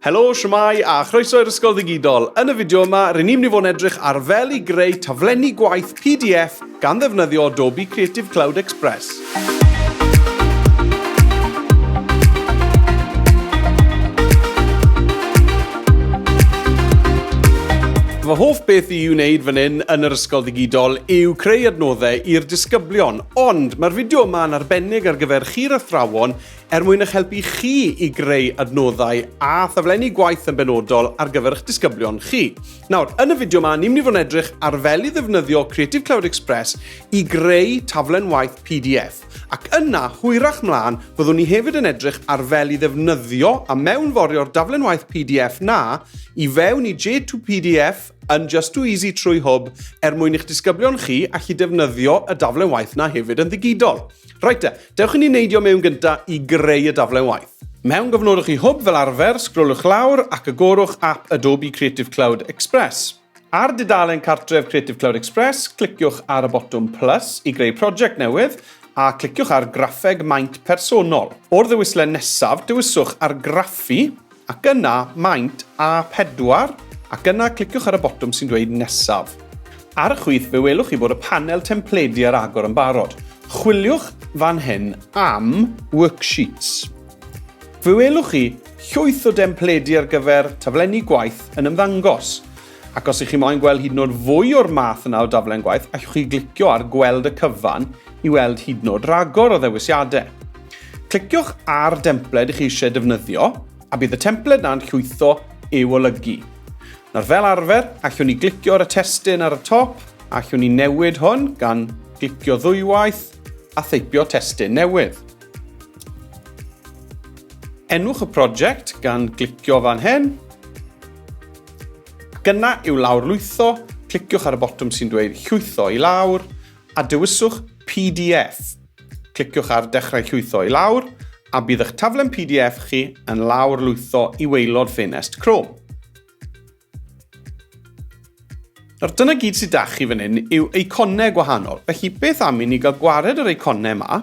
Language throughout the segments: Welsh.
Helo, shwmae a chroeso i'r Ysgol Ddigidol. Yn y fideo yma, ryn ni'n mynd i fod yn edrych ar fel i greu taflenni gwaith PDF gan ddefnyddio Adobe Creative Cloud Express. Fy hoff beth i'w wneud fan hyn yn yr ysgol ddigidol yw creu adnoddau i'r disgyblion, ond mae'r fideo yma yn arbennig ar gyfer chi'r athrawon er mwyn eich helpu chi i greu adnoddau a thaflenni gwaith yn benodol ar gyfer eich disgyblion chi. Nawr, yn y fideo yma, ni'n mynd i fod yn edrych ar fel i ddefnyddio Creative Cloud Express i greu taflen waith PDF, ac yna, hwyrach mlaen, fyddwn ni hefyd yn edrych ar fel i ddefnyddio a mewnforio'r daflen waith PDF na i fewn i J2PDF yn Just Too Easy trwy hwb er mwyn i'ch disgyblion chi allu defnyddio y daflen waith na hefyd yn ddigidol. Rhaid e, Dewch i ni neidio mewn gyntaf i greu y daflen waith. Mewn gofnodwch chi hwb fel arfer, sgrolwch lawr ac agorwch ap Adobe Creative Cloud Express. Ar dudalen cartref Creative Cloud Express, cliciwch ar y botwm plus i greu prosiect newydd a cliciwch ar graffeg maint personol. O'r ddewislen nesaf, dewiswch argraffu Ac yna maint A pedwar, ac yna cliciwch ar y botwm sy'n dweud Nesaf. Ar y chwith fe welwch chi bod y panel templedi ar agor yn barod. Chwiliwch fan hyn am Worksheets. Fe welwch chi llwyth o dempledi ar gyfer taflenni gwaith yn ymddangos. Ac os ych chi moyn gweld hyd yn oed fwy o'r math yna o daflen gwaith, allwch chi glicio ar gweld y cyfan i weld hyd yn oed ragor o ddewisiadau. Cliciwch ar dempled ych chi eisiau defnyddio, a bydd y templed yna'n llwytho i'w olygu. Nawr fel arfer, allwn ni glicio ar y testyn ar y top, a allwn ni newid hwn gan glicio ddwywaith a theipio testyn newydd. Enwch y prosiect gan glicio fan hyn, Gyna i'w lawrlwytho, cliciwch ar y botwm sy'n dweud Llwytho i lawr a dewiswch pdf. Cliciwch ar Dechrau Llwytho i lawr a bydd eich taflen pdf chi yn lawrlwytho i waelod ffenest Chrome. Nawr dyna gyd sydd 'da chi fan hyn yw eiconau gwahanol, felly beth am i ni gael gwared yr eiconau yma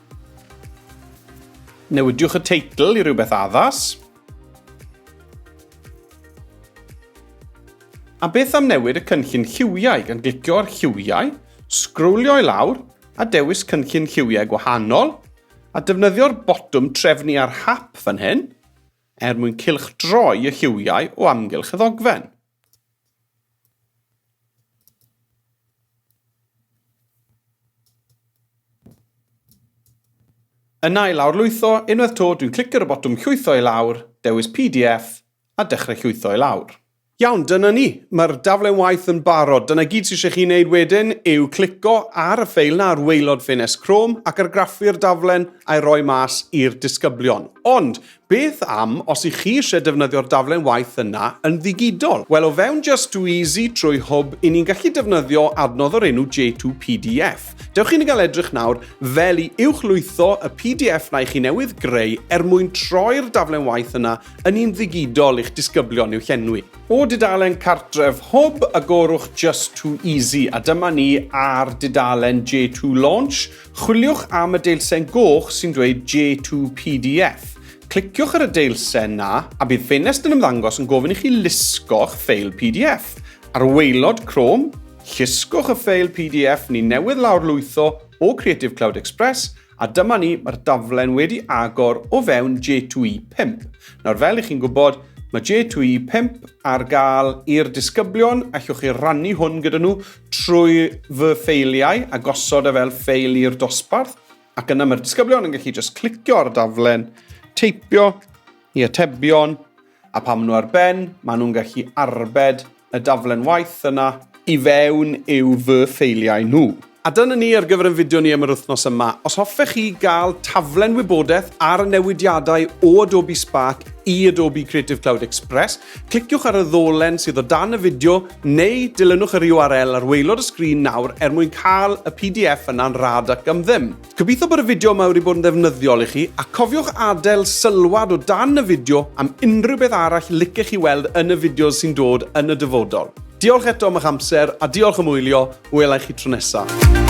Newidiwch y teitl i rywbeth addas. A beth am newid y cynllun lliwiau gan glicio ar lliwiau, sgrwlio i lawr a dewis cynllun lliwiau gwahanol a defnyddio'r botwm trefnu ar hap fan hyn er mwyn cylchdroi y lliwiau o amgylch y ddogfen. Yna i lawrlwytho unwaith to dwi'n clicio ar y botwm llwytho i lawr, dewis pdf a dechrau llwytho i lawr. Iawn, dyna ni. Mae'r daflen waith yn barod. Dyna gyd sydd eisiau chi wneud wedyn yw clico ar y ffeil na ar waelod ffenest Chrome ac argraffu'r daflen a'i roi mas i'r disgyblion. Ond Beth am os i chi eisiau defnyddio'r daflen waith yna yn ddigidol? Wel, o fewn Just Too Easy trwy Hwb, i ni'n gallu defnyddio adnodd o'r enw J2PDF. Dewch chi'n gael edrych nawr fel i uwchlwytho y PDF na i chi newydd greu er mwyn troi'r daflen waith yna yn un ddigidol i'ch disgyblion i'w llenwi. O dudalen cartref Hwb, agorwch Just Too Easy a dyma ni ar dudalen J2 Launch. Chwiliwch am y deilsen goch sy'n dweud J2PDF. Cliciwch ar y deilsen na, a bydd ffenest yn ymddangos yn gofyn i chi lusgo'ch ffeil PDF. Ar waelod Chrome, llusgwch y ffeil PDF ni newydd lawr lwytho o Creative Cloud Express, a dyma ni, mae'r daflen wedi agor o fewn J2E5. Nawr fel i chi'n gwybod, Mae J2E 5 ar gael i'r disgyblion, allwch chi rannu hwn gyda nhw trwy fy ffeiliau a gosod e fel ffeil i'r dosbarth ac yna mae'r disgyblion yn gallu just clicio ar y daflen, teipio i atebion a pan maen nhw ar ben, maen nhw'n gallu arbed y daflen waith yna i fewn i'w fy ffeiliau nhw. A dyna ni ar gyfer ein fideo ni am yr wythnos yma. Os hoffech chi gael taflen wybodaeth ar y newidiadau o Adobe Spark i Adobe Creative Cloud Express, Cliciwch ar y ddolen sydd o dan y fideo neu dilynwch yr URL ar waelod y sgrin nawr er mwyn cael y pdf yna'n rhad ac am ddim. Gobeithio bod y fideo yma wedi bod yn ddefnyddiol i chi, a cofiwch adael sylwad o dan y fideo am unrhyw beth arall licech chi weld yn y fideos sy'n dod yn y dyfodol. Diolch eto am eich amser, a diolch am wylio, welai chi tro nesaf.